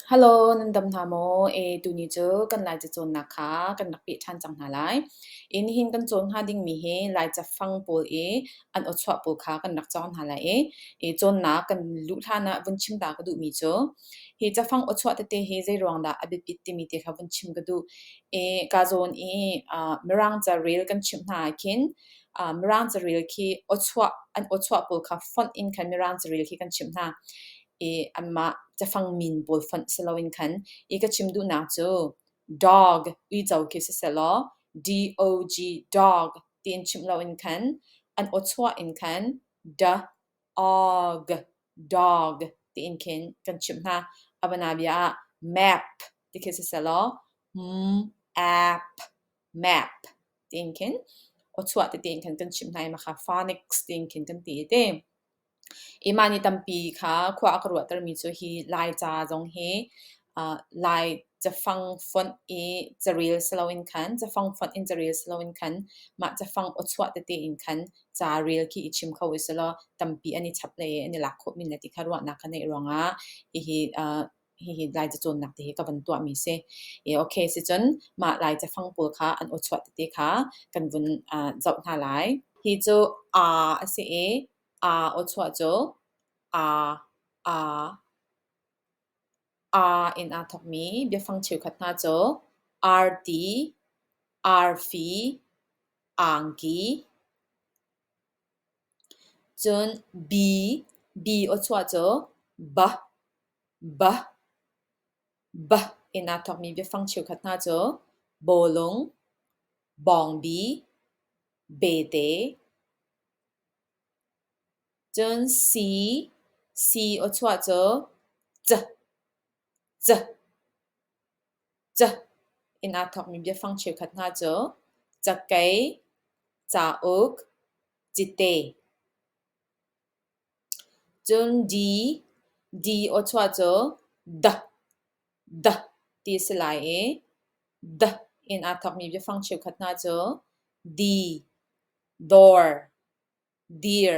Halo, nan dam hna maw? E, tuni cu kan Laica cawnnak kha kan rak peh ṭhan cang hna lai. E, nihin kan cawn hnga dingmi hi Laica fang pawl i an awchuah pawl kha kan rak cawng hna lai i i cawnnak kan luh hlan ah vun chim ta ka duhmi cu, hi cafang awchuah tete hi zeiruang dah a biapit timi te kha vun chim ka duh. E, kaa zawn i ah Mirang carel kan chimh hna ahkhin ah Mirang carel khi awchuah an awchuah pawl kha fonh in khan Mirang carel khi kan chimh hna. i anmah cafang min pawl fonh si loin khan i ka chim duhnak cu dog uico khi sisehlaw dog dog tiin chimh loin khan an awchuah in khan da og dog tiin khin kan chimh hna abana bia ah map ti khi sisehlaw m ap map tiin khin awchuah ti tiin khan kan chimh hna i makha phonics tiin khin kan ti i ti i mah ni tampi kha khua a ka ruahtermi cu hi Laica zong hi uh, Lai cafang fonh i caril siloin khan cafang fonh in caril siloin khan mah cafang awchuah tete in khan ca rel khi i chim kho usih law tampi an i chap le an i lak khawhmi le ti kha ruahnak ka neih ruangah hihi uh, hihi Lai cacawnnak ti hi ka van tuahmi si. I okay sicun mah Lai cafang pawl kha an uchuah tete kha kan vun uh, zoh hna lai. Hi cu a a si i a uchuah cu a a a in aa thokmi biafang cheukhat hna cu arti, arfi, angki, Cun bi, bi aw chuah cu ba, ba, ba in aa thawkmi biafang cheukhat hna cu bawlung, bawngbi, bete, cun si, si aw chuah cu c. Ca in aa thawkmi biafang cheukhat hna cu cakei, cauk, cite. Cun di, di awchuah cu da, da ti a si lai i da in aa thawkmi biafang cheukhat hna cu di, dawr, dir.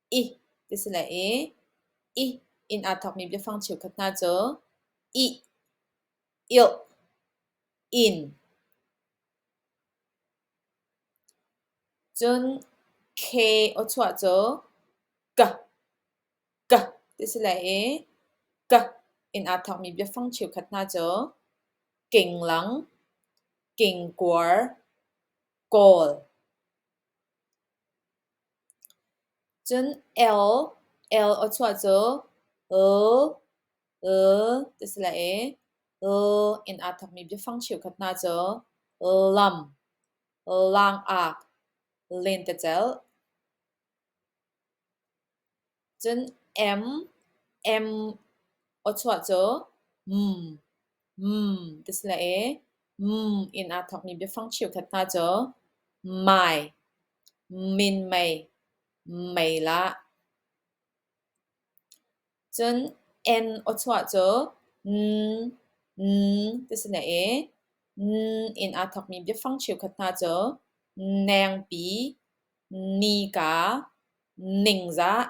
ih ti si le i ih in aa thawkmi biafang cheukhat hna cu ih, ilh, in. Cun K aw cu ka, ka ti si le i ka in aa thawkmi biafang cheukhat hna cu kinglang, kingkuar, kawl. Cun "el" "el" aw chuah cu "l" "l" ti si lai i "l" in aa thokmi biafang cheukhat hna cu "lam", "langak", "lentecelh". Cun M M aw chuah cu mm mm ti si lai i mm in aa thawkmi biafang cheukhat hna cu mai, minmei, meilah. Cun N aw chuah cu n n ti si lai i n in aa thawkmi biafang cheukhat hna cu nengpi. Nika ningzah.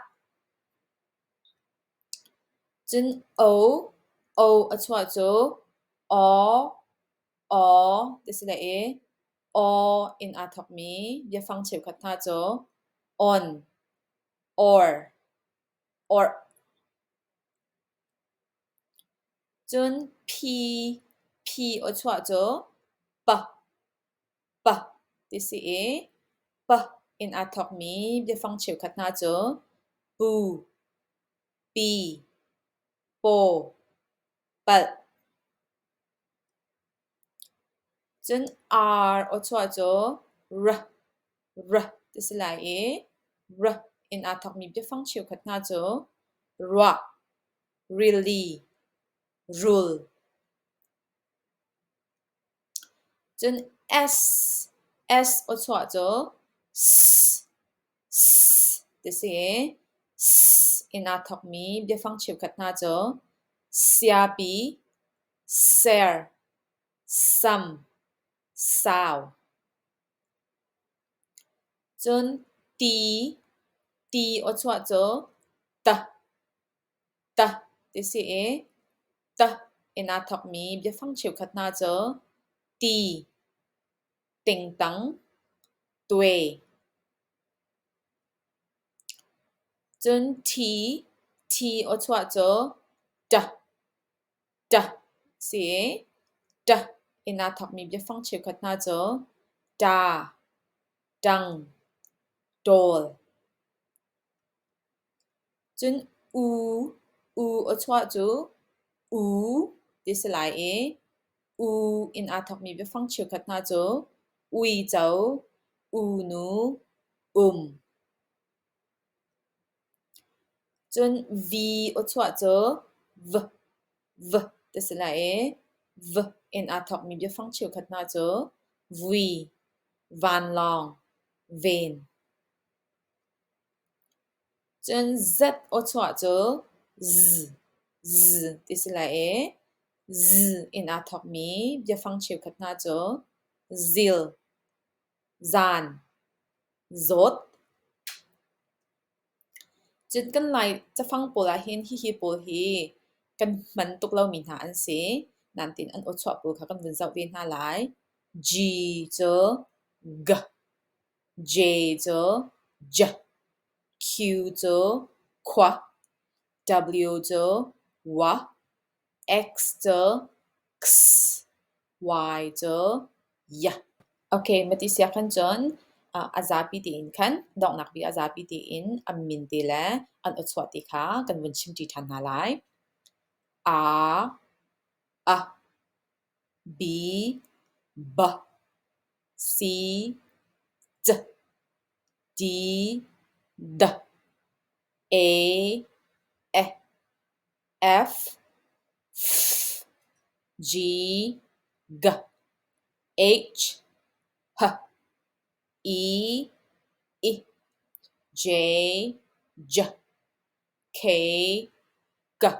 Cun o, o a chuah cu aw, aw ti si le i aw in aa thawkmi biafang cheukhat hna cu on, or, orh. Cun phi, phi aw chuah cu pa. pa ti si i pa in aa thawkmi biafang cheukhat hna cu pu, pi, paw, palh. Cun ar awchuah cu ra, ra ti si lai i ra in aa thawkmi biafang cheukhat hna cu ruah, rili, rul. Cun S aw chuah cu s ti si i s in aa thawkmi biafang cheukhat hna cu siapi, ser, sam, sau. Cun ti, ti aw chuah cu t, "Tah" ti si i "tah" in aa thawkmi biafang cheukhat hna cu "ti", "tingtang", "tuai", cun "thi", "thi" aw chuah cu "tah", "tah" si i "tah" in aa thawkmi biafang cheukhat hna cu "ta", "tang", "tawl". Cun U, U aw chuah cu U ti si lai i u in aa thawkmi biafang cheukhat hna cu uico, unu, um. Cun V aw chuah cu V, V ti si lai i V in aa thawkmi biafang cheukhat hna cu vui, vanlawng, ven. Cun Z aw chuah cu zzz zzz ti si lai i zzz in aa thawkmi biafang cheukhat hna cu zil, zan, zawt. Cun kan Lai cafang pawl ahhin hihi pawl hi kan hman tuk lomi hna an si. Nain an aw chuah pawl kha kan vun zoh ve hna lai. G cu g. J cu j, Q cu khua, W cu wa, X cu x, Y cu ya. Okay, mati siak khan cun uh, a zapi tiin khan donghnak vi a zapi tiin an min ti le an uchuah ti kha kan vun chim ṭi ṭhan hna lai. A, a, B B C C D D E F F G G H H I I J J K K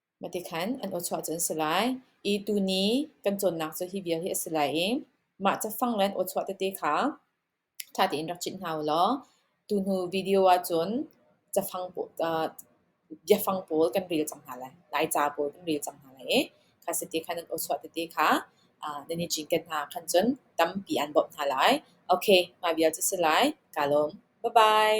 Matikhan an awchuah cu an si lai i tuni kan cawnnak cu hi vial hi a si lai i mah cafang le an awchuah tete kha ṭha tein rak cit hna u law tuhnu video ahcun cafang biafang pawl kan rel cang hna lai, Laica pawl kan rel cang hna lai i kha siti khan an awchuah tete kha nan i cinken hna ahkhan cun tampi aan bawmh hna lai. Okay, mah vial cu a si lai, kaa lawm. Bye-bye.